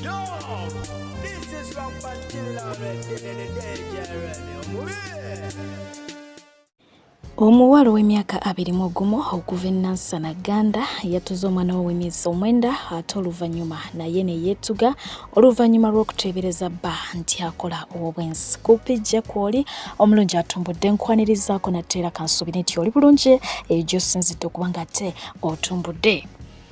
Yo, this is Rock Bantilla Ready, the DJ Ready. Omuwala ow'emyaka abiri mu ogumu okuva e Nansana Gganda yatuze omwana we ow'emyezi omwenda ate oluvannyuma naye ne yeetuga oluvannyuma lw'okuteebereza bba nti akola ow'obwenzi. Kupi gye kw'oli omulungi atumbudde nkwanirizaako natteera kansuubire nti oli bulungi eyo gy'osinzidde okuba ng'ate otumbudde.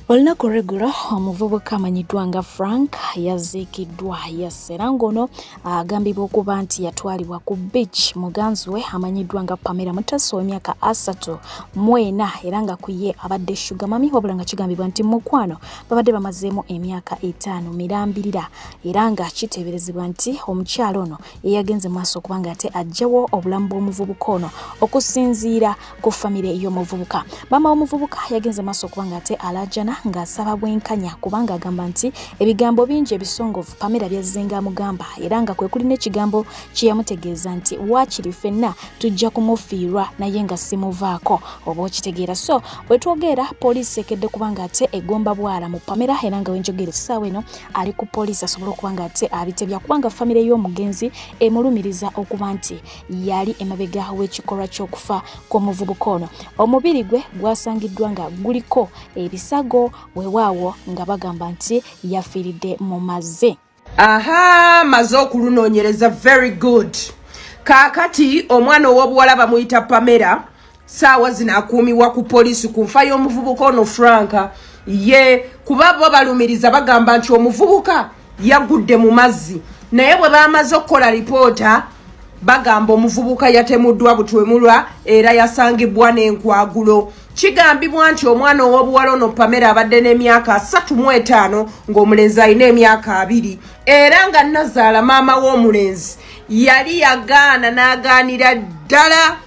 Olunaku olw'eggulo omuvubuka amanyiddwa nga Frank yaziikiddwa yassera ng'ono agambibwa okuba nti yatwalibwa ku beach muganzi we amanyiddwa nga Pamela Mutasa ow'emyaka asatu mu ena era nga ku ye abadde shuga mami wabula nga kigambibwa nti mukwano babadde bamazeemu emyaka etaano mirambirira era nga kiteeberezebwa nti omukyala ono eyagenze maaso okubanga ate ajjawo obulamu bw'omuvubuka ono okusinziira ku famire y'omuvubuka maama w'omuvubuka yagenze maaso okubanga ate alaajana ng'asaba bwenkanya kubanga agamba nti ebigambo bingi ebisongovu pamera byazzenga amugamba era nga kwe kuli n'ekigambo kye yamutegeeza nti waakiri ffenna tujja kumufiirwa naye nga simuvaako oba okitegeera so bwe twogeera poliisi ekedde kubanga ate egomba bwala mu pamera era nga wenjogera essaawa eno ali ku poliisi asobole okuba nga ate abitebya kubanga famire y'omugenzi emulumiriza okuba nti yali emabega w'ekikolwa ky'okufa kw'omuvubuka ono omubiri gwe gwasangiddwa nga guliko ebisago wewaawo nga bagamba nti yafiiridde mu mazzi aha maze okulunonyereza very good kaakati omwana ow'obuwala bamuyita pamera saawa zino akuumiwa ku poliisi ku nfa y'omuvubuka ono franka ye kuba bo balumiriza bagamba nti omuvubuka yagudde mu mazzi naye bwe bamaze okukola lipoota bagamba omuvubuka yatemuddwa butwemulwa era yasangibwa n'enkwagulo kigambibwa nti omwana ow'obuwala ono pamera abadde n'emyaka asatu mu etaano ng'omulenzi alina emyaka abiri era nga nazaala maama w'omulenzi yali yagaana n'agaanira ddala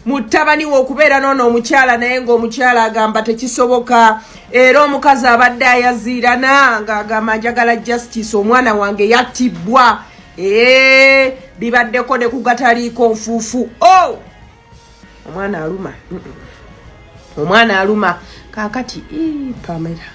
mutabani wokubeera noono omukyala naye ngaomukyala agamba tekisoboka era omukazi abadde ayaziirana ngaagamba njagala justice omwana wange yattibbwa ee bibaddeko ne kugataliiko nfuufu o oh! omwana aluma omwana aluma kaakati pamera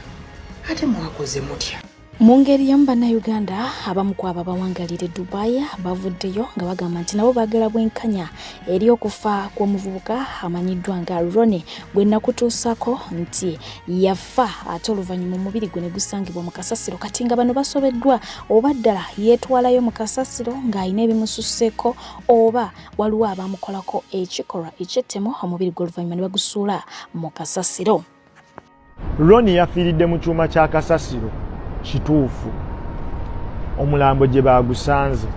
ate mwakoze mutya Mu ngeri y'emu bannayuganda abamu ku abo abawangalira Dubai bavuddeyo nga bagamba nti nabo baagala bwenkanya eri okufa kw'omuvubuka amanyiddwa nga Rone gwe nakutuusako nti yafa ate oluvannyuma omubiri gwe ne gusangibwa mu kasasiro kati nga bano basobeddwa oba ddala yeetwalayo mu kasasiro ng'alina ebimususseeko oba waliwo abaamukolako ekikolwa eky'ettemu omubiri gwe oluvannyuma ne bagusuula mu kasasiro. Ronnie yafiiridde mu kyuma kya kasasiro kituufu omulambo gye baagusanze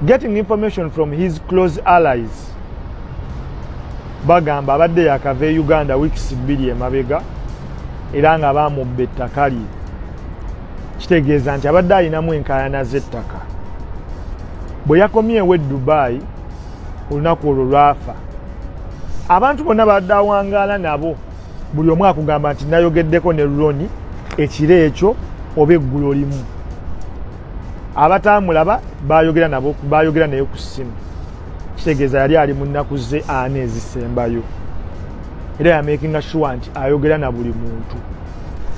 getting information from his close allies bagamba abadde yakava e uganda weeks bbiri emabega era nga baamubba ettaka lye kitegeeza nti abadde alinamu enkaayana z'ettaka bwe yakomyewo e dubaayi olunaku olwo lwafa abantu bonna badde awangaala nabo buli omu akugamba nti nayogeddeko ne roni ekiro ekyo oba eggulo limu abataamulaba bayogera nabo bayogera naye ku ssimu kitegeeza yali ali mu nnaku ze aana ezisembayo era yamakinga shuwa nti ayogera na buli muntu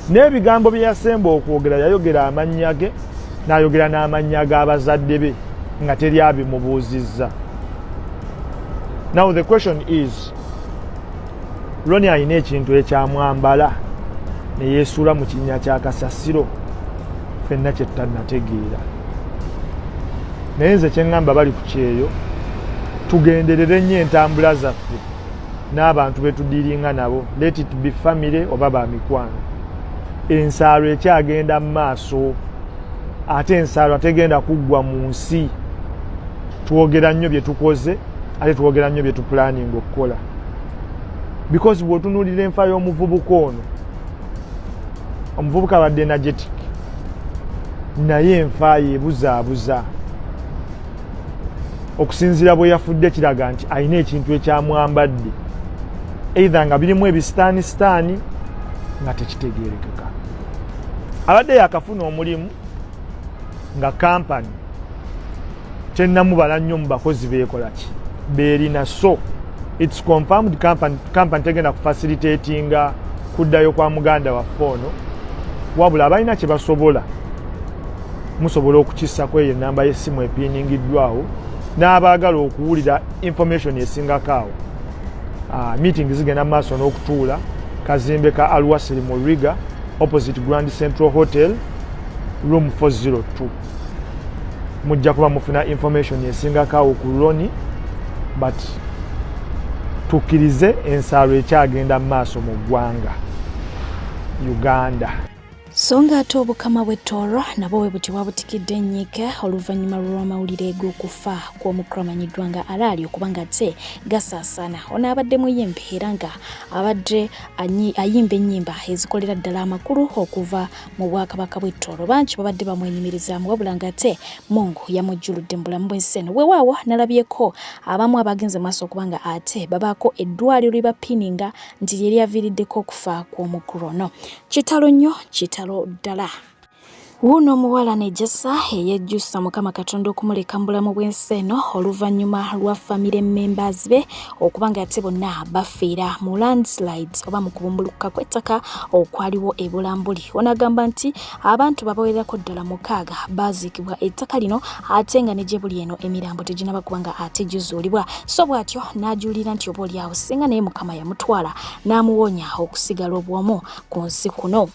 n'ebigambo bye yasemba okwogera yayogera amannya ge n'ayogera n'amannya g'abazadde be nga teri abimubuuzizza now the question is loni alina ekintu ekyamwambala neyesuula mu kinnya kya kasasiro fenna kyettanategeera naye nze kyeŋŋamba bali ku kyeyo tugenderere nnyo entambula zaffe n'abantu betudiringa nabo let it be family oba ba mikwano ensaalo ekyagenda mu maaso ate ensaalo ategenda kuggwa mu nsi twogera nnyo bye tukoze ate twogera nnyo bye tupulaninga okukola because bwotunulira enfa y'omuvubuka ono omuvubuka abadde energetic naye enfa yebuzaabuza okusinziira bwe yafudde kiraga nti alina ekintu ekyamwambadde eitha nga birimu ebisitaani sitaani nga tekitegeerekeka abadde yakafuna omulimu nga kampani kyenamubala nnyo mu bakozi beekolaki beerina so its confirmed company tegenda kufasilitatinga kuddayo kwa muganda waffe ono wabula abalina kye basobola musobola okukissako eyo enamba y'essimu epiiningiddwawo n'abaagala okuwulira information esingako awo ah, meeting zigenda mu maaso n'okutuula kazimbe ka alwasiri mu riga opposite grand central hotel room 402 mujja kuba mufuna information esingako awo ku loni but tukkirize ensaalo ekyagenda mu maaso mu ggwanga uganda so nga ate obukama bwe tooro nabo we buti bwabutikidde ennyika oluvannyuma lw'amawulire g'okufa kw'omukulu amanyiddwa nga alaali okuba nga ate gasaasaana ono abadde muyimbi era nga abadde ayimba ennyimba ezikolera ddala amakulu okuva mu bwakabaka bw'e Tooro bangi babadde bamwenyumirizaamu wabula ng'ate Mungu yamujjuludde mu bulamu bw'ensi eno. Weewaawo nalabyeko abamu abagenze mu maaso okuba nga ate babaako eddwaaliro lye bapininga nti lye lyaviiriddeko okufa kw'omukulu ono. Kitalo nnyo, kitalo ddala. Wuuno omuwala Nejasa eyejjusa Mukama Katonda okumuleka mu bulamu bw'ensi eno oluvannyuma lwa famire members be okuba nga yate bonna bafiira mu landslides oba mu kubumbulukuka kw'ettaka okwaliwo e Bulambuli. Ono agamba nti abantu babawererako ddala mukaaga baaziikibwa ettaka lino ate nga ne gye buli eno emirambo teginaba kuba nga ate gizuulibwa. So bw'atyo n'ajuulira nti oba olyawo singa naye Mukama yamutwala n'amuwonya okusigala obwomu ku nsi kuno.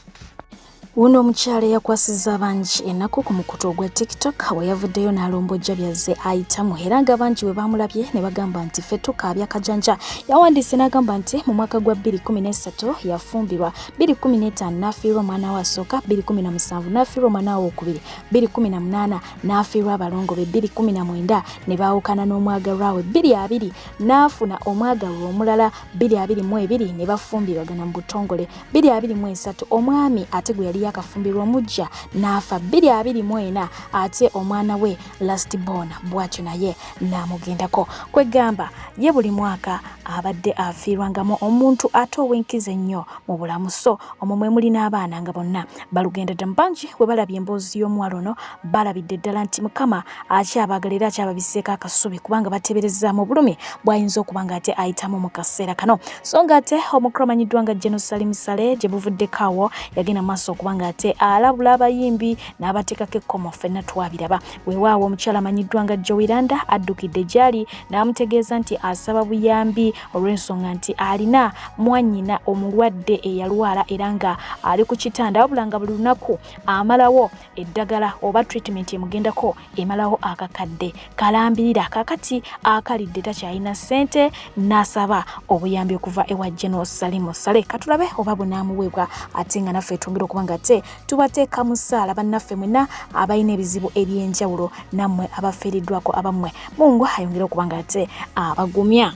Wuno omukyala eyakwasizza abangi ennaku ku mukutu ogwa tiktok bwe yavuddeyo n'alombojja byazze ayitamu era nga bangi bwe baamulabye ne bagamba nti ffe tukaabya kajanja yawandiise n'agamba nti mu mwaka gwa 2013 yafumbirwa 2015 n'afiirwa omwana we asooka 2017 n'afiirwa omwana we okubiri 2018 n'afiirwa abalongo be 2019 ne baawukana n'omwagalwa we 22 n'afuna omwagalwa omulala 22 ne bafumbirwagana mu butongole bbiri abiri mu esatu omwami ate gwe yali yakafumbirwa omujja n'afa bbiri abiri mu ena ate omwana we last born bwatyo naye n'amugendako kwegamba ye buli mwaka abadde afiirwangamu omuntu ate ow'enkizo ennyo mu bulamu so omwo mwe muli n'abaana nga bonna balugenda dda mu bangi bwe balabye emboozi y'omuwala ono balabidde ddala nti mukama akyabagala era akyababiseeko akasubi kubanga batebereza mu bulumi bwayinza okuba nga ate ayitamu mu kaseera kano so nga ate omukulu amanyiddwa nga jeno salim sale gye buvuddeko awo yagenda maaso okuba nga ate alabula abayimbi n'abateekako ekkomo ffenna twabiraba weewaawo omukyala amanyiddwa nga jowiranda addukidde gyali n'amutegeeza nti asaba buyambi olw'ensonga nti alina mwanyina omulwadde eyalwala era nga ali ku kitanda wabula nga buli lunaku amalawo eddagala oba treatment emugendako emalawo akakadde kalambirira kakati akalidde takyalina ssente n'asaba obuyambi okuva ewa general salimu sale katulabe oba bunaamuweebwa ate nga naffe twongera okuba nga te tubateeka mu ssaala bannaffe mwena abalina ebizibu eby'enjawulo nammwe abafiiriddwako abammwe mungu ayongere okuba nga ate abagumya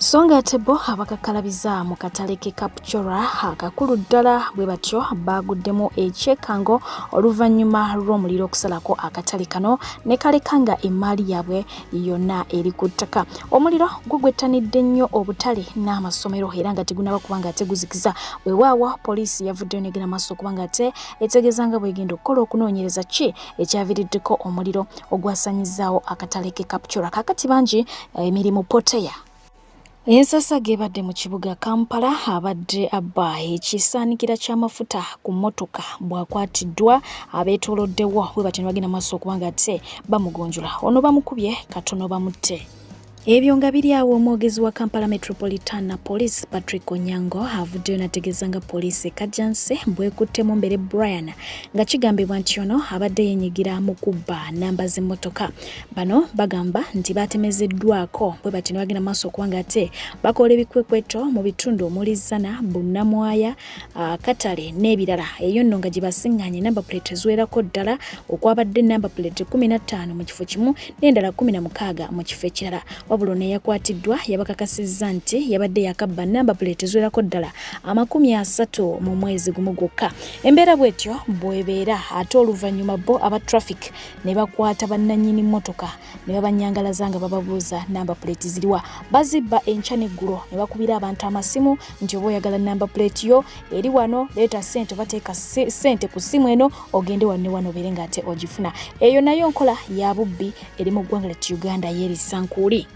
so nga ate bo abakakkalabiza mu katale ke kapcora akakulu ddala bwe batyo baaguddemu ekyekango oluvannyuma lw'omuliro okusalako akatale kano ne kaleka nga emmaali yaabwe yonna eri ku ttaka omuliro gugwettanidde nnyo obutale n'amasomero era nga tegunaba kuba nga ate guzikiza wewaawo poliisi yavuddeyo negera maaso okuba nga ate etegeeza nga bwegenda okukola okunoonyereza ki ekyaviriddeko omuliro ogwasanyizaawo akatale ke captura kakati bangi eh, emirimu poteya ensasage ebadde mu kibuga kampala abadde abba ekisaanikira ky'amafuta ku mmotoka bwakwatiddwa abeetoloddewo bwe batyo ne bagenda maaso okuba nga ate bamugunjula ono bamukubye katono bamutte Ebyo nga biri awo omwogezi wa Kampala Metropolitana Police Patrick Onyango avuddeyo nategeeza nga poliisi e Kajjansi bwekutte Mumbere Brian nga kigambibwa nti ono abadde yenyigira mu kubba namba z'emmotoka. Bano bagamba nti baatemezeddwako bwe bati ne bagenda maaso okuba nga ate bakoola ebikwekweto mu bitundu omuli Zzana, Bunnamwaya akatale n'ebirala eyo nno nga gye basiŋŋanye namba puleti eziwerako ddala okwabadde namba puleti 15 mu kifo kimu n'endala 16 mu kifo ekirala wabula ono eyakwatiddwa yabakakasizza nti yabadde yakabba namba puleti eziwerako ddala amakumi asatu mu mwezi gumu gwokka embeera bwetyo bwebeera ate oluvannyuma bo aba traffic ne bakwata bannannyini mmotoka ne babanyangalaza nga bababuuza namba puleeti ziriwa bazibba enkya neggulo ne bakubira abantu amasimu nti oba oyagala namba puleeti yo eri wano leeta sente obateeka sente ku ssimu eno ogende wanne wano obeere nga ate ogifuna eyo nayo nkola ya bubbi eri mu ggwanga lyat uganda yeerisankuuli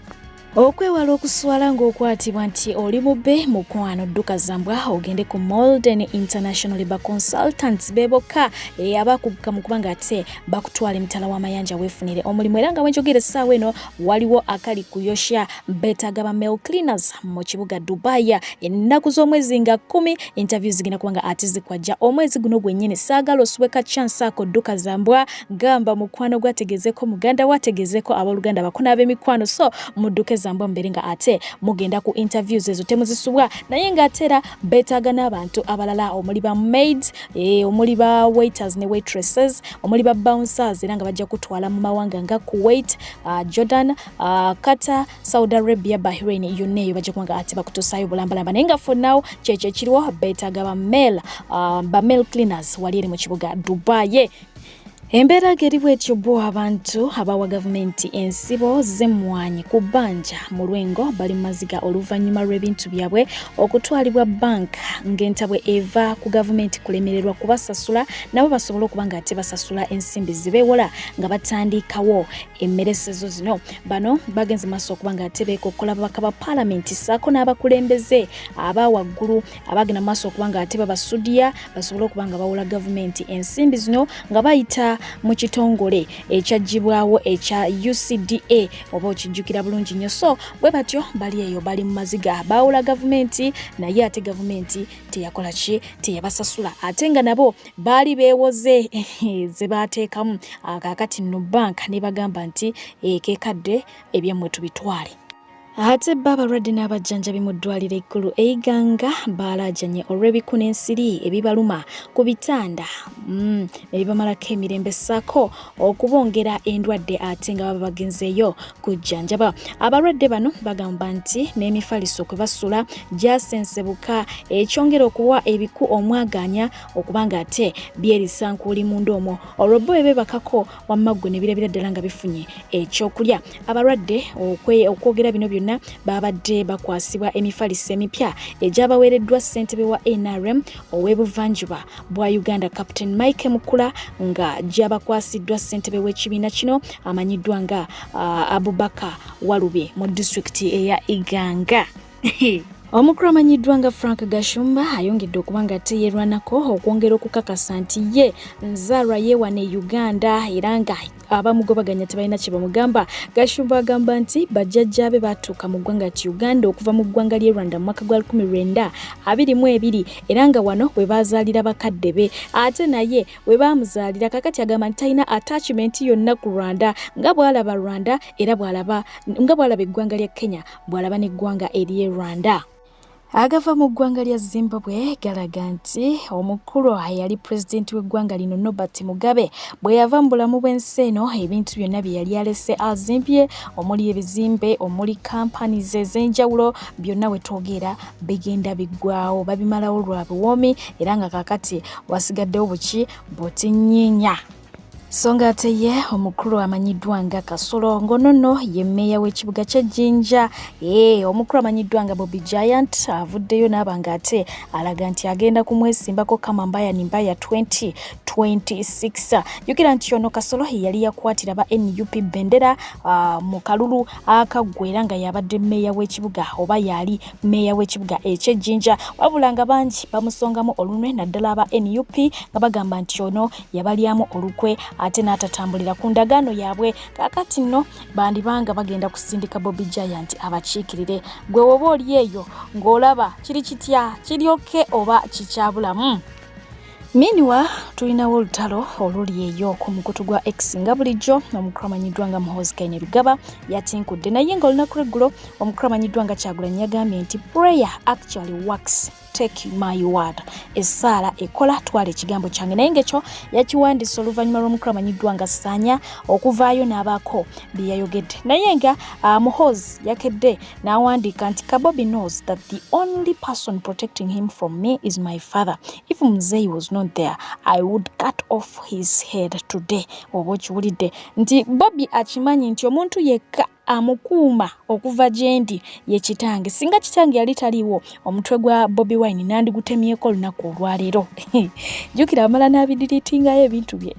okwewala okuswala ng'okwatibwa nti oli mubbe mukwano dduka zambwa ogende ku molden international labor consultants be bokka eh, abakuguka mu kubanga ate bakutwala emitala w'amayanja weefunire omulimu era nga wenjogera essaawa eno waliwo akali kuyosha beetaga ba mail cleaners mu kibuga dubaya ennaku z'omwezi nga kumi interview zigenda kubanga ate zikwajja omwezi guno gwennyini saagala osubeka chance ako dduka zambwa gamba mukwano gwa tegezeko muganda wa tegezeko aboluganda bako n'abemikwano so mudduke zambwa mubere nga ate mugenda ku interviews ezo temuzisubwa naye nga atera betaaga n'abantu abalala omuli ba maids eh, omuli ba waiters ne waitresses omuli ba bouncers era nga bajja kutwala mu mawanga nga kuwait uh, jordan uh, qatar saudi arabia bahrain yonna eyo bajja kuba nga ate bakutusaayo bulambalamba naye nga for now kyekyo ekiriwo betaaga ba male uh, ba male cleaners wali eri mu kibuga dubai Embeera geri bwetyo bo abantu abawa gavumenti ensibo z'emmwanyi ku bbanja mu lwengo bali mu maziga oluvannyuma lw'ebintu byabwe okutwalibwa bbanka ng'entabwe eva ku gavumenti kulemererwa kubasasula nabo basobole okuba nga ate basasula ensimbi zibeewola nga batandiikawo emmeresezo zino bano bagenze maaso okuba nga ate beekokkola babaka ba paalamenti ssaako n'abakulembeze aba waggulu abagenda mu maaso okuba nga ate babasudiya basobole okuba nga bawola gavumenti ensimbi zino nga bayita mu kitongole ekyaggyibwawo ekya ucda oba okijjukira bulungi nnyo so bwe batyo bali eyo bali mu maziga bawola gavumenti naye ate gavumenti teyakola ki teyabasasula ate nga nabo baali beewoze ze baateekamu akaakati no banka ne bagamba nti ekekadde eh, ebyemmwe tubitwale Ate bba abalwadde n'abajjanjabi mu ddwaliro ekkulu e Iganga baalaajanye olw'ebiku n'ensiri ebibaluma ku bitanda mm, ne bibamalako emirembe ssaako okubongera endwadde ate nga baba bagenzeeyo kujjanjaba. Abalwadde bano bagamba nti n'emifaliso kwe basula gyasensebuka ekyongera okuwa ebiku omwagaanya okuba ng'ate byerisankuuli munda omwo olwo bbo bebebakako wamma ggwe ne birabira ddala nga bifunye ekyokulya abalwadde okwogera bino byonna baabadde bakwasibwa emifaliso emipya egyabaweereddwa ssentebe wa nrm ow'ebuvanjuba bwa uganda captain mike mukula nga gyabakwasiddwa ssentebe w'ekibiina kino amanyiddwa nga uh, abubaka walube mu disitulikiti eya iganga Omukulu amanyiddwa nga Frank Gashumba ayongedde okuba nga teyerwanako okwongera okukakasa nti ye nzaalwa yeewana e Uganda era nga abamugobaganya tebalina kye bamugamba. Gashumba agamba nti bajjajjaabe baatuuka mu ggwanga ti Uganda okuva mu ggwanga ly'e Rwanda mu mwaka gwa 1922 era nga wano we baazaalira bakadde be ate naye we baamuzaalira. Kakati agamba nti talina attachment yonna ku Rwanda nga bw'alaba Rwanda era bw'alaba nga bw'alaba eggwanga lya Kenya bw'alaba n'eggwanga ery'e Rwanda. Agava mu ggwanga lya Zimbabwe galaga nti omukulu eyali pulezidenti w'eggwanga lino Nobert Mugabe bwe yava mu bulamu bw'ensi eno ebintu byonna bye yali alese azimbye omuli ebizimbe omuli companies ez'enjawulo byonna we twogera bigenda biggwawo babimalawo lwa buwoomi era nga kakati wasigaddewo buki butinyinya. so nga ate ye omukulu amanyiddwa nga kasolo ngono no ye meeya w'ekibuga kye jinja ee omukulu amanyiddwa nga bobi giant avuddeyo naaba nga ate alaga nti agenda kumwesimbako kama mbaya ni mbaya 2026 jukira nti ono kasolo yali yakwatira ba nup bendera uh, mu kalulu akaggwera nga yabadde meeya w'ekibuga oba yali meeya w'ekibuga ekyejinja wabula nga bangi bamusongamu olunwe naddala aba nup nga bagamba nti ono yabalyamu olukwe ate n'atatambulira ku ndagaano yaabwe kakati nno bandibanga bagenda kusindika bobi giant abakiikirire gwe woba oli eyo ng'olaba kiri kitya kiryoke oba kikyabulamu miniwa tulinawo olutalo oluli eyo ku mukutu gwa x nga bulijjo omukulu amanyiddwa nga muhozikaine lugaba yatinkudde naye nga olunaku lweggulo omukulu amanyiddwa nga kyagulanyi yagambye nti prayer actually works take my word essaala ekola twala ekigambo kyange naye ngaekyo yakiwandiisa oluvannyuma lw'omukulu amanyiddwa nga saanya okuvaayo n'abaako bye yayogedde naye nga uh, muhoz yakedde n'awandiika nti kabobi knows that the only person protecting him from me is my father if muzei was not there i would cut off his head today oba okiwulidde nti bobi akimanyi nti omuntu yekka amukuuma okuva gyendi ye kitange singa kitange yali taliwo omutwe gwa bobi wine nandigutemyeko olunaku olwaleero jukira amala nabidiritingayo ebintu bye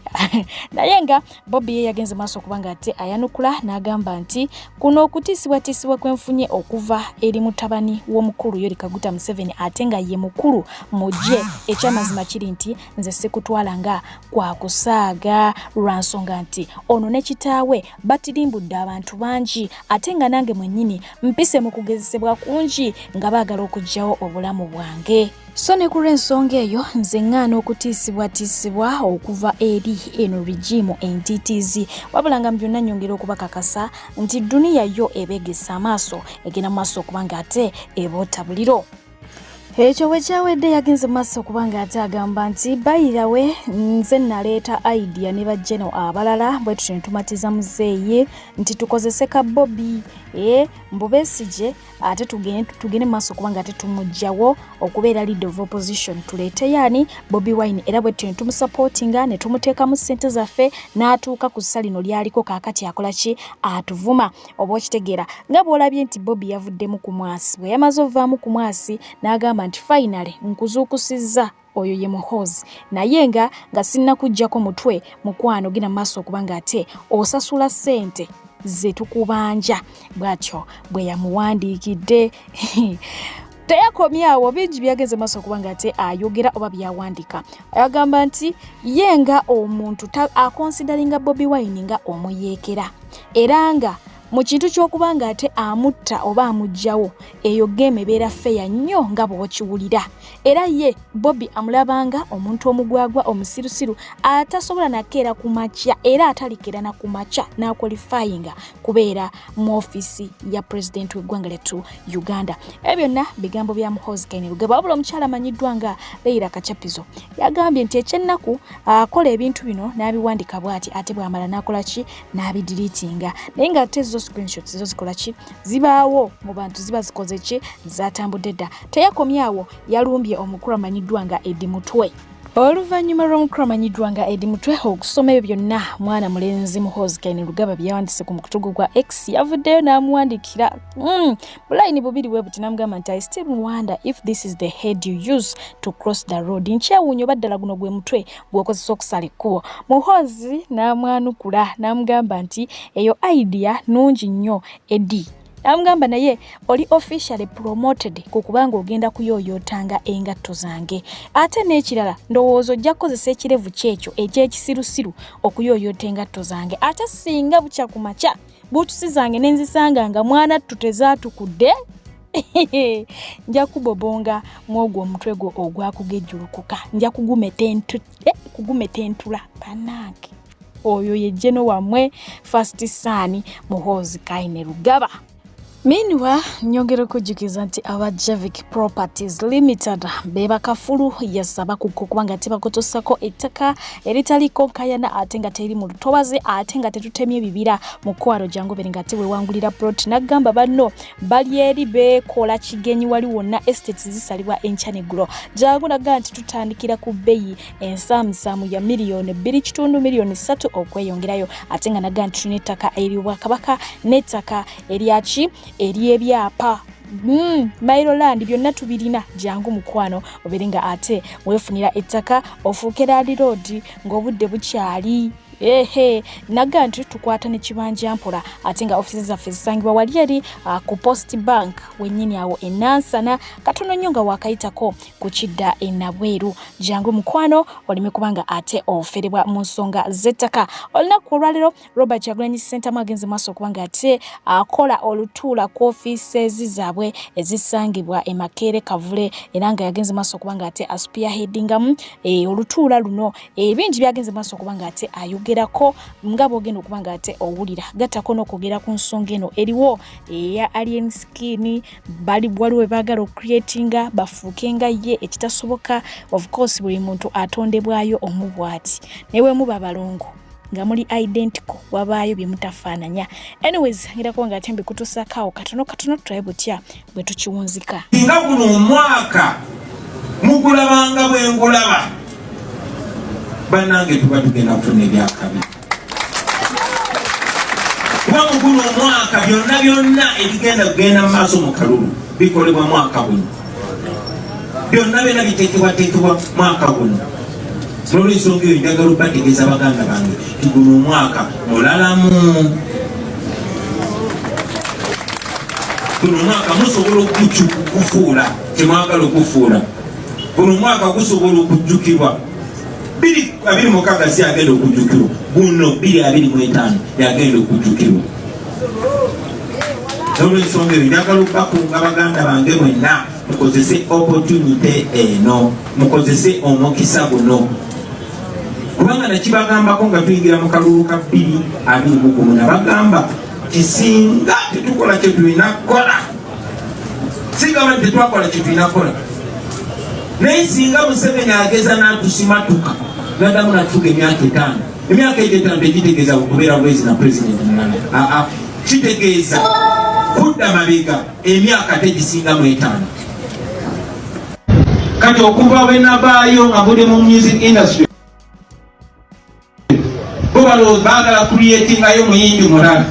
naye nga bobi ye yagenze maaso okubanga ate ayanukula n'agamba nti kuno okutiisibwatiisibwa kwenfunye okuva eri mutabani w'omukulu yori kaguta museveni ate nga ye mukulu mugye ekyamazima kiri nti nze sikutwala nga kwakusaaga lwa nsonga nti ono ne kitaawe batirimbudde abantu bangi ate nga nange mwennyini mpise mu kugezesebwa kungi nga baagala okuggyawo obulamu bwange so ne ku lw'ensonga eyo nze ŋŋaana okutiisibwatiisibwa okuva eri eno rigimu entitiizi wabula nga mu byonna nnyongera okubakakasa nti duniya yo ebeegesa amaaso egenda mu maaso okuba nga ate eboota buliro ekyo bwe kyawedde yagenze mu maaso okuba nga ate agamba nti bayirawe nze naleeta idea ne bajeno abalala bwe tutyo netumatiza muzeeyi nti tukozese ka bobi e mbu besigye ate tugende mu maaso okuba nga ate tumugjawo okubeera lead of opposition tuleeteyo ani bobi wine era bwe tutyo netumusupportinga netumuteekamu ssente zaffe n'atuuka ku ssa lino lyaliko kaakati akola ki atuvuma oba okitegeera nga bw'olabye nti bobi yavuddemu ku mwasi bwe yamaze ovaamu ku mwasi n'agamba nti fayinale nkuzuukusizza oyo ye muhoozi naye nga nga sinnakuggyako mutwe mukwano genda maaso okuba nga ate osasula ssente ze tukubanja bw'atyo bwe yamuwandiikidde teyakomye awo bingi byageze maaso kuba nga ate ayogera oba byawandika agamba nti ye nga omuntu akonsidaringa bobi wine nga omuyeekera era nga mu kintu ky'okuba nga ate amutta oba amugjawo eyo geemu ebeera feya nnyo nga bw'okiwulira era ye bobi amulabanga omuntu omugwagwa omusirusiru atasobola nakeera ku makya era atalikeera na ku makya n'akwalifayinga kubeera mu ofisi ya pulezidenti w'eggwanga lyattu uganda ebyo byonna bigambo bya muhozi kainerugaba wabula omukyala amanyiddwa nga leira kacapizo yagambye nti ekyennaku akola ebintu bino n'abiwandika bwati ate bwamala n'akola ki n'abidiriitinga naye nga ate zo screenshots zo zikola ki zibaawo mu bantu ziba zikoze ki zatambudde dda teyakomyawo yalumbye omukulu amanyiddwa nga edi mutwe oluvannyuma lw'omukulu amanyiddwa nga edi mutwe okusoma ebyo byonna mwana mulenzi muhoozi kaine lugaba byeyawandise ku mukutugu gwa x yavuddeyo n'amuwandikira hmm, bulayini bubiri bwe buti namugamba nti i still wonder if this is the head you use to cross the road nkyewuunyo oba ddala guno gwe mutwe gw'okozesa okusala ekkubo muhoozi n'amwanukula n'amugamba nti eyo idea nungi nnyo edi amugamba naye oli officially promoted ku kubanga ogenda kuyoyootanga engatto zange ate n'ekirala ndowooza ojja kukozesa ekirevu kyekyo ekyekisirusiru okuyoyoota engatto zange ate singa bukya ku makya buutusi zange ne nzisanga nga mwana ttu tezaatukudde nja kubobonga mwogwo omutwe gwo ogwakugejjulukuka nja kugumeta entula eh, banange oyo ye jeno wamwe first son muhoozi kaine lugaba Meanwhile, nyongera okujjukiza nti aba Javik Properties Limited be bakafulu yasaba kuko kubanga tebakutuusako ettaka eritaliiko nkayana ate nga teri mu lutobazi ate nga tetutemye bibira mu kwaro jangu bere nga tewewangulira plot n'agamba banno bali eri beekola kigenyi wali wonna estates zisalibwa enkya n'eggulo jangu nagamba nti tutandikira ku bbeyi ensaamusaamu ya miliyoni bbiri kitundu miliyoni ssatu okweyongerayo ate nga naga nti tulina ettaka ery'obwakabaka n'ettaka eryaki ery'ebyapa Mm, mailoland byonna tubirina jangu mukwano obeere nga ate weefunira ettaka ofuuke laadi roodi ng'obudde bukyali ehe naga nti tukwata ne kibanja mpola ate nga ofisi zaffe zisangibwa wali eri uh, ku post bank wenyini awo enansana katono nnyo nga wakayitako kukidda enabweru jangu mukwano oleme kubanga ate oferebwa mu nsonga z'ettaka olunaku olwalero robert kyagulanyi sentamu agenze maaso okubanga ate akola olutuula ku ofiisezi zaabwe ezisangibwa emakeere kavule era nga yagenze maaso okubanga ate asupia headingamu e, olutuula luno ebingi e, byagenze maaso okubanga ate ayogerako nga bwogenda okubanga ate owulira gattako n'okwogera ku nsonga eno eriwo eya alien skin bali waliwo webagala okucreatinga bafuuke nga ye ekitasoboka of course buli muntu atondebwayo omu bwati naye wemuba balongo nga muli identical wabaayo bye mutafaananya anyways ngira kuba nga ate mbikutuusakaawo katono katono tulabe butya bwe tukiwunzika nga guno omwaka mugulabanga bwe ngulaba bannange tuba tugenda kufuna ebyakabi kuba mu guno omwaka byonna byonna ebigenda kugenda mu maaso mu kalulu bikolebwa mwaka guno byonna byonna biteekebwateekebwa mwaka guno nolwensonga eyo njagala obategeeza baganda bange ti guno omwaka mulalamu guno omwaka musobola okukufuula kyemwagala okufuula guno omwaka gusobola okujjukirwa biri abiri mukaga si agenda okujjukirwa guno biri abiri mu etaano yagenda okujjukirwa nolwensonga eyo njagala okubakunga baganda bange mwenna mukozese opportunity eno mukozese omukisa guno kubanga nakibagambako nga tuyingira mu kalulu ka bbiri abiri mugumu nabagamba kisinga tetukola kyetulina kukola sigamba nti tetwakola kintu inakola naye singa museveni ageza natusimatuka nadamu natuka emyaka etaano emyaka egyo etaano tegitegeeza kubeera bwezi na pulezidenti mulala aa kitegeeza kudda mabega emyaka tegisinga mu etaano kati okuva bwenabaayo nga buli mu music industry balowooza bagala kuliyetingayo muyimbi mulala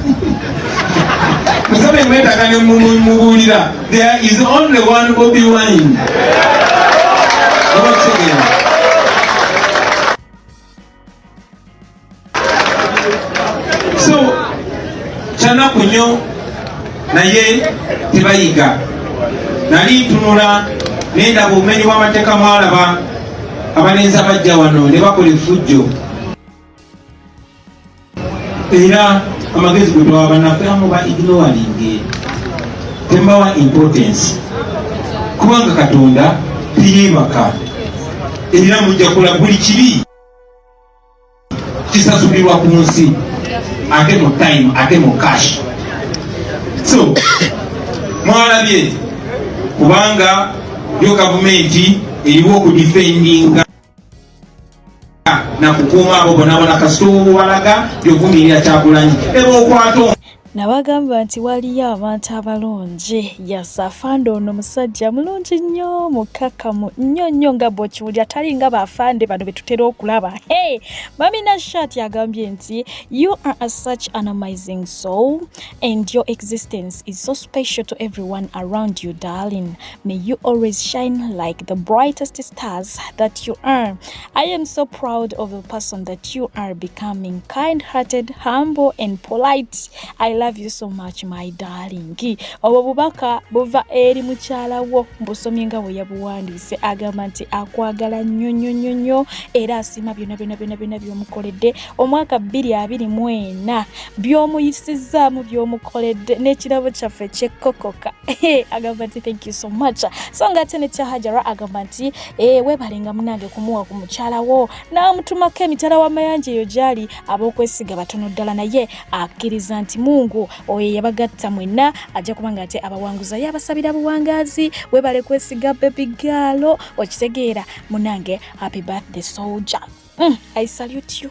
musabe mwetaga ne mubuulira there is only one bobi wine obakutegeera so kyanaku nnyo naye tebayiga nali ntunula nendaba obumenyi bw'amateeka mwalaba abalenzi abajja wano ne bakola efujjo era amagezi gwe bawa banaffe amu ba ignoringe tembawa importance kubanga katonda teyebaka era mujja kola buli kibi kisasulirwa ku nsi ate mu time ate mu cash so mwalabye kubanga yo gavumenti eriwo okudifendinga nakukuuma abo bonabona kasita obubalaga yovumirira kyagulanyi eba okwata nabagamba nti waliyo abantu abalungi yasafande ono musajja mulungi nnyo mukkakkamu nnyo nnyo nga bwekiwulira tali nga bafande bano betutera okulaba hey! mamina shat agambye nti you are a such an amazing soul and your existence is so special to everyone around you darling May you always shine like the brightest stars that you are. I am so proud of the person that you are becoming kind hearted, humble, and polite. I love you so much, my darling. Obwo bubaka buva eri mukyala wo mbusomye nga bwe yabuwandiise agamba nti akwagala nnyo nnyo nnyo nnyo era asiima byonna byonna byonna byonna by'omukoledde omwaka bbiri abiri mwena by'omuyisizzaamu by'omukoledde n'ekirabo kyaffe kyekkokoka agamba nti thank you so much so nga ate ne kyahajara agamba nti eh, weebalenga munange kumuwa ku mukyala wo n'amutumako emitala w'amayanja eyo gyali ab'okwesiga batono ddala naye akkiriza nti mungu oyo yabagatta mwenna ajja kuba nga ate abawanguza yabasabira buwangazi weebale kwesiga bebi gaalo okitegeera munange happy birthday soldier mm, i salute you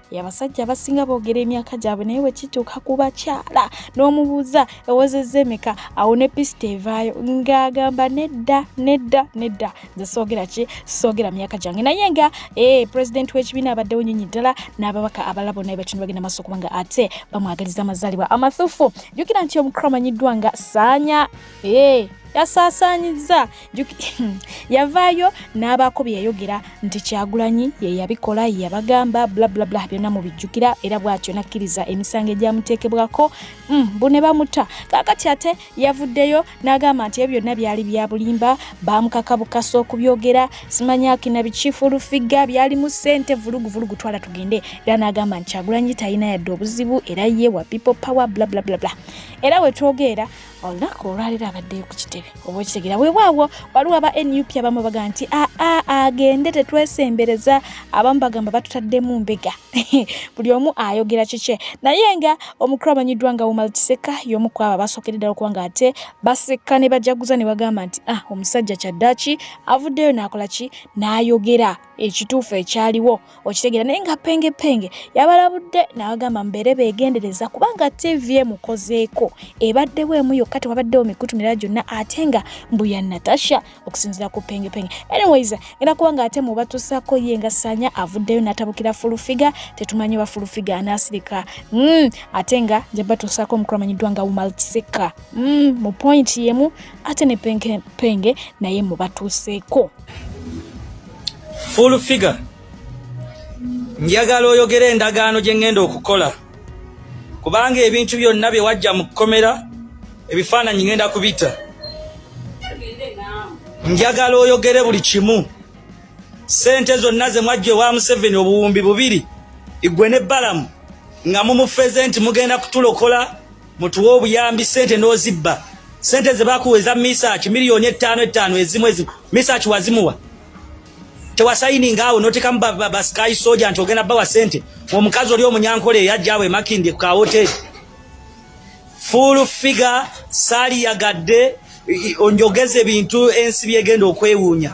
abasajja abasinga boogera emyaka gyabwe naye bwe kituuka ku bakyala n'omubuuza ewozezza emeka awo ne pisita evaayo ng'agamba nedda nedda nedda nze soogera ki soogera myaka gyange naye nga ee eh, pulezidenti w'ekibiina abaddewo nyonyi ddala n'ababaka abalabo naye bakino bagenda maaso kubanga ate bamwagaliza amazaalibwa amathufu jjukira nti omukulu amanyiddwa nga saanya ee eh, yasaasaanyizza yavaayo n'abaako bye yayogera nti kyagulanyi ye yabikola ye yabagamba blablabla byonna mubijjukira era bw'atyo n'akkiriza emisango egyamuteekebwako mm, bu ne bamuta kaakati ate yavuddeyo n'agamba nti ebyo byonna byali bya bulimba baamukaka bukasa okubyogera simanyaki na bikifuulufiga byalimu ssente vulugu vulugu twala tugende era n'agamba nti kyagulanyi talina yadde obuzibu era ye wa people power blablabla era we twogeera olunaku olwaliro abaddeyo ku kitebe oba okitegera wewaawo waliwo aba nup abamu baga nti aa ah, ah, ah, agende tetwesembereza abamu bagamba batutaddemu mbega buli omu ayogera kikye naye nga omukulu amanyiddwa nga umal kiseka yomu ku abo abasookere ddala okuba nga ate baseka ne bajaguza ne bagamba nti a omusajja kyaddaki avuddeyo naakola ki n'ayogera ekituufu ekyaliwo okitegeera naye nga penge penge yabalabudde n'abagamba mubeere beegendereza kubanga tv emukozeeko ebaddewo emu yokka tewabaddewo mikutu mirala gyonna ate nga mbu ya natasha okusinzira ku penge penge anyways era kubanga ate mubatusaako ye nga sanya avuddeyo n'atabukira fulufiga tetumanyi oba fulufiga anaasirika mm, ate nga jabatusaako omukulu amanyiddwa nga wumaltiseka mm, mu point yemu ate ne penge penge naye mubatuuseeko Full figure njagala oyogera endagaano gye ngenda okukola kubanga ebintu byonna bye wajja mu kkomera ebifaananyi ngenda kubita njagala oyogere buli kimu sente zonna ze mwajja ewa museveni obuwumbi bubiri igwe ne balamu nga mumufeze nti mugenda kutulokola mutuwa obuyambi sente n'ozibba sente zebakuwa eza misaki miliyoni ettaano ettaano ezimu ezimu misaki wazimuwa tewasayininga awo notekamu basikayi soja nti ogenda bawa sente omukazi oli omunyankole eyajjaawo emakindye ku kawoteri full figure sali yagadde onjogeze bintu ensi byegenda okwewuunya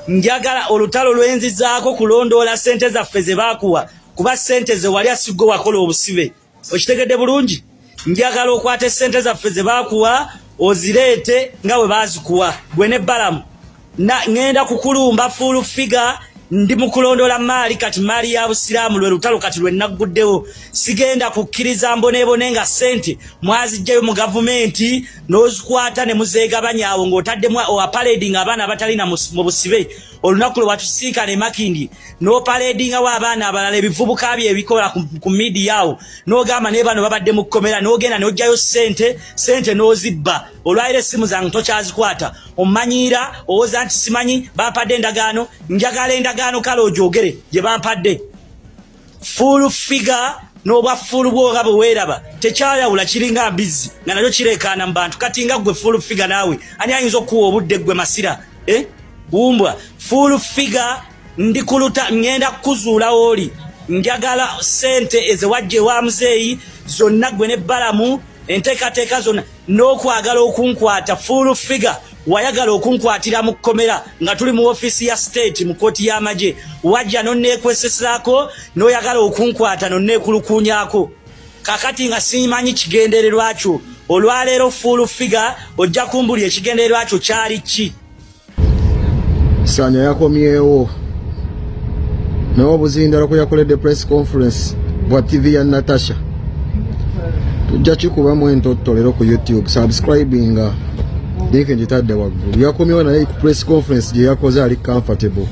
njagala olutalo lwenzizaako kulondoola sente zaffe zebakuwa kuba sente zewali asigwe wakola obusibe okitegedde bulungi njagala okwata esente zaffe zebakuwa ozireete nga we bazikuwa gwe ne balamu ŋenda kukulumba fuulu figa ndi mukulondola maali kati maali ya busiraamu lwe lutalo kati lwe nagguddewo sigenda kukkiriza mboneebone nga sente mwazijjayo mu gavumenti n'ozikwata ne muzeegabanyaawo ng'otaddemu apaledinga abaana abatalina mu busibe olunaku lwe watusinkana emakindi nopaledingawo abaana abalala ebivubuka bye ebikola ku midiya awo nogamba naye bano babadde mu kkomera nogenda nojjayo sente sente nozibba olwaliro essimu zange tokyazikwata omanyiira owoza nti simanyi bampadde endagaano njagala endagaano kale ogyogere gye bampadde full figure n'obwa full bwo nga bwe weeraba tekyayawula kiringa mbizzi nga nakyo kireekaana mu bantu kati nga ggwe full figure naawe ani ayinza okukuwa obudde ggwe masira eh? wumbwa full figure ndi kuluta ŋŋenda kukuzuula wooli njagala sente ezewajja ewa muzeeyi zonna ggwe ne balamu enteekateeka zonna n'okwagala okunkwata full figure wayagala okunkwatira mu kkomera nga tuli mu ofiisi ya state mu kooti y'amagye wajja nonneekwesesaako n'oyagala okunkwata nonneekulukuunyako kakati nga simanyi kigendererwa kyo olwaleero full figure ojja kumbuli ekigendererwa kyo kyali ki sanya yakomyewo naye obuzindalo kwe yakoledde press conference bwa tv ya natasha tujja kikubamu entotto lero ku youtube subscribinga linki ngitadde waggulu yakomyewo naye ku press conference gye yakoze ali comfortable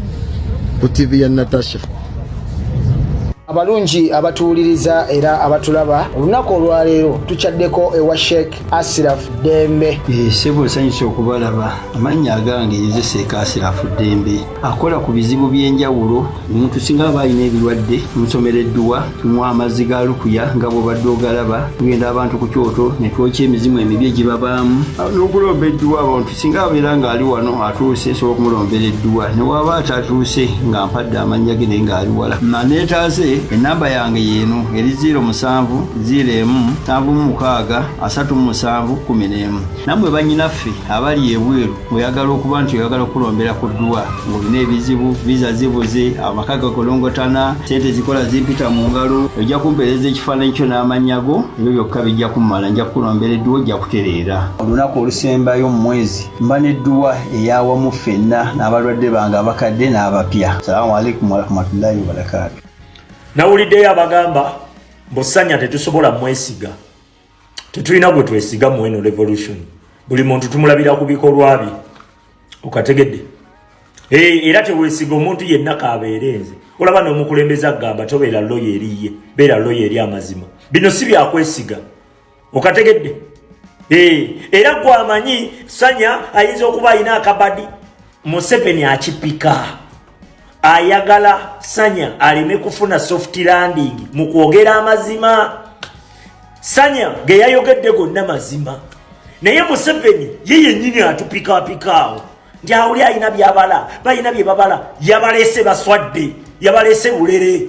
ku tv ya natasha abalungi abatuwuliriza era abatulaba olunaku olwaleero tukyaddeko ewa sheikh Asirafu Ddembe. Eh, ssebo nsanyuse okubalaba amannya agange yezeseeka Asirafu Ddembe akola ku bizibu by'enjawulo omuntu singa aba alina ebirwadde tumusomera edduwa tumuwa amazzi ga lukuya nga bw'obadde ogalaba tugenda abantu ku kyoto ne twokya emizimu emibi egibabaamu n'okulomba edduwa abantu singa abeera ng'ali wano atuuse nsobola okumulombera edduwa ne waaba atatuuse nga mpadde amannya ge naye ng'ali wala maneetaase ennamba yange yeeno eri 0 musanvu 0 emu nsanvu mu mukaaga asatu mu musanvu kumi n'emu nammwe bannyinaffe abali ebweru oyagala okuba nti oyagala okulombera ku dduwa ng'olina ebizibu viza zibuze amaka gakolongotana sente zikola zimpita mu ngalo ojja kumpeereza ekifaananyi kyo n'amannya go ebyo byokka bijja kumala nja kukulombera edduwa ojja kutereera olunaku olusembayo mu mwezi mba n'edduwa eyawamu ffenna n'abalwadde bange abakadde n'abapya salaamu aleikum warahmatullahi wabarakaatu nawuliddeyo abagamba mbusanya tetusobola mwesiga tetulina gwe twesiga mweno revolution buli muntu tumulabira ku bikolwa bye okategedde eh, era tewesiga omuntu yenna kabeere nze olaba n'omukulembeze agamba tobeera loya eriye beera loya eri amazima bino si byakwesiga okategedde eh, era gwamanyi sanya ayinza okuba alina akabadi museveni akipika ayagala sanya aleme kufuna soft landing mu kwogera amazima sanya ge yayogedde gonna mazima naye museveni ye yennyini atupikaapikaawo nti awuli alina byabala balina bye babala yabalese baswadde yabalese bulere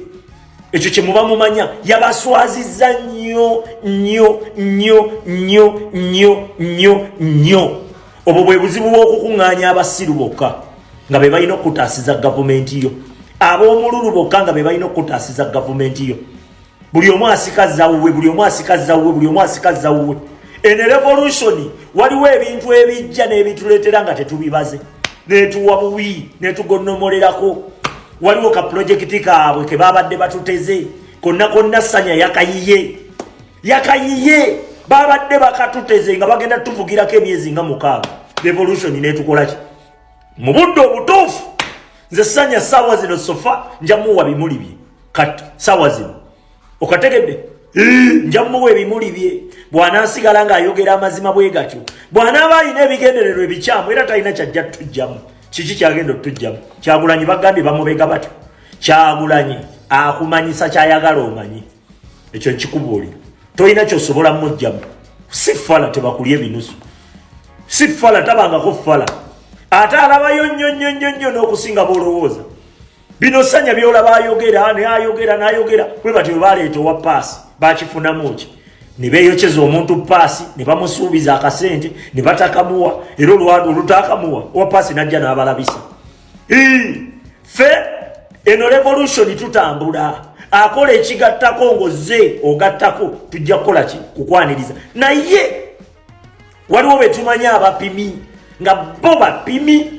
ekyo kye muba mumanya yabaswaziza nnyo nnyo nnyo nnyo nnyo nnyo nnyo obwo bwe buzibu bw'okukuŋŋaanya abasiru bokka nga be balina okukutaasiza gavumenti yo ab'omululu bokka nga be balina okukutaasiza gavumenti yo buli omu asika zawuwe buli omu asika zawuwe buli omu asika zawuwe ene revolution waliwo ebintu ebijja n'ebituleetera nga tetubibaze netuwa buwi netugonnomolerako waliwo ka pulojekiti kaabwe ke babadde batuteze konna konna sanya yakayiye yakayiye babadde bakatuteze nga bagenda tuvugirako emyezi nga mukaaga revolution netukolaki mu budde obutuufu nze sanya saawa zino sofa njamuwa bimuli bye kati saawa zino okategedde njamuwa ebimuli bye bwanasigala ngaayogera amazima bwe gatyo bwanaaba alina ebigendererwa ebikyamu era talina kyajja tujjamu kiki kyagenda otujjamu kyagulanyi bagambye bamubega batyo kyagulanyi akumanyisa kyayagala omanyi ekyo nkikubuulira tolina kyosobola mujjamu si fala tebakulya ebinusu si fala tabangako fala ate alabayo nnyo nnyo nnyo nnyo n'okusinga b'olowooza bino sanya byolaba ayogera nayogera nayogera bwe batyo baleeta owa paasi bakifunamu ki ne beeyokyeza omuntu paasi ne bamusuubiza akasente ne batakamuwa era olwadu olutakamuwa owa paasi n'ajja n'abalabisa fe eno revolution tutambula akola ekigattako ngoze ogattako tujja kukola ki kukwaniriza naye waliwo betumanyi abapimi nga bo bapimi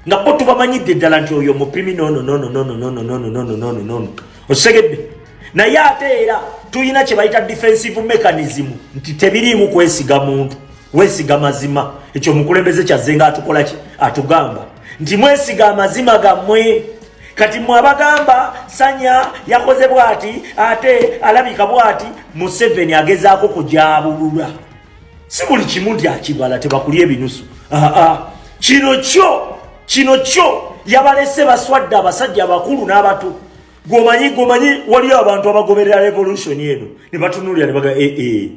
nga bo tubamanyidde ddala nti oyo mupimi nononononononononononononono osegedde naye ate era tulina kye bayita defensive mechanism nti tebiriimu kwesiga muntu wesiga mazima ekyo mukulembeze kyazze nga atukola ki atugamba nti mwesiga amazima gammwe kati mwe abagamba sanya yakoze bwati ate alabika bwati museveni agezaako kujaabulula si buli kimu nti akibala tebakulya ebinusu kino kyo kino kyo yabalese baswadde abasajja abakulu n'abato gwomanyi gwomanyi waliyo abantu abagoberera revolution eno ne batunulira ne baga ee eh, eh.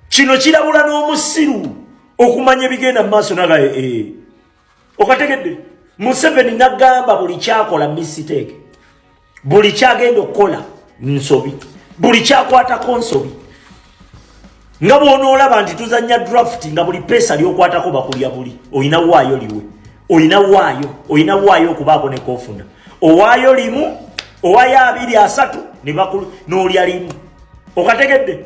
kino kirabula n'omusiru okumanya ebigenda mu maaso naga ee eh, okategedde museveni nagamba buli kyakola misiteeke buli kyagenda okukola nsobi buli kyakwatako nsobi nga bwonoolaba nti tuzanya draft nga buli peesa lyokwatako bakulya buli olina waayo liwe olina waayo olina waayo okubaako nekofuna owaayo limu owayo abiri asatu nebakulu n'olya limu okategedde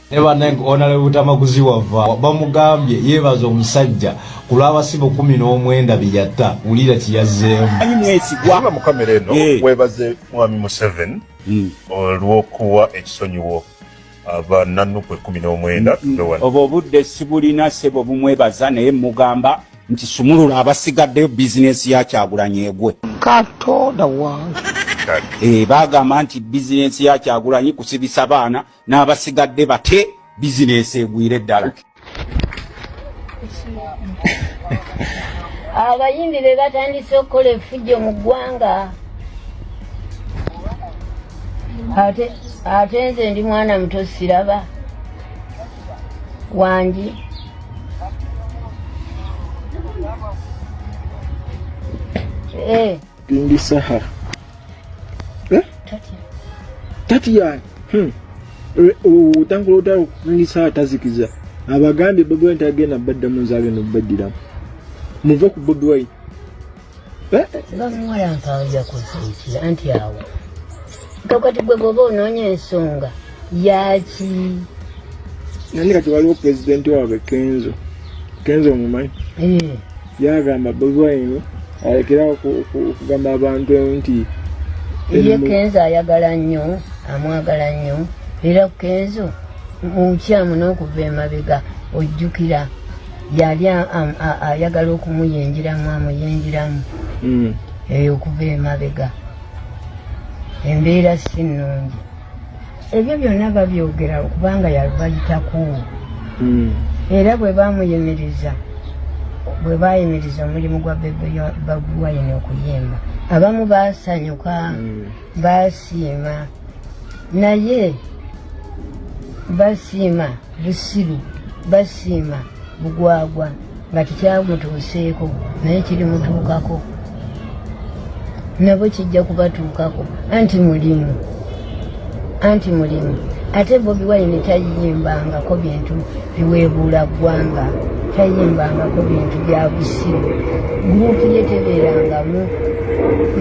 ne banange onale butamaguzi wava bamugambye yebaza omusajja ku lw'abasibe kumi n'omwenda bye yatta wulira kye yazzeemu anyi mwesigwa mu kamera eno eh. webaze mwami museveni hmm. olw'okuwa ekisonyiwo abananukwe kumi n'omwenda hmm. obwo obudde sibulina sebo bumwebaza naye mugamba nti sumulula abasigaddeyo bizinesi ya kyagulanyi egwe katonda wange eh, bagamba nti bizinesi ya kyagulanyi kusibisa baana n'abasigadde bate bizinensi egwire ddala abayimbi be batandise okukola efujjo mu ggwanga ate nze ndi mwana muto siraba wangi eh. Bindi Saha. Eh? Tatia. Tatia. Hmm. Otangula otala okundi Saha tazikiza. Abagambye Bobi Wine tagenda badda mu nzaale no baddira. Muve ku Bobi Wine. Eh? Bamuwa yampanja ku nsi anti awo. Kakati gwe bwoba onoonya ensonga yaaki? Nani kati waliwo pulezidenti waabwe Kenzo. Kenzo omumanyi? Eh. yagamba bobi wine alekerawo okugamba abantu nti ye kenzo ayagala nnyo amwagala nnyo era kenzo mukyamu n'okuva emabega ojjukira yali ayagala okumuyingiramu amuyingiramu hmm. eyo okuva emabega embeera si nnungi ebyo byonna babyogera kubanga yabayitako hmm. era bwe bamuyimiriza bwe bayimiriza omulimu gwa bebe baguwayina okuyimba abamu basanyuka hmm. basiima naye basiima busiru basiima bugwagwa nga tekyamutuuseeko naye kirimutuukako nabo kijja kubatuukako anti mulimu anti mulimu ate bobi wine tayimbangako bintu biweebuula ggwanga tayimbangako bintu bya busiru gurupu ye tebeerangamu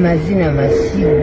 mazina masiru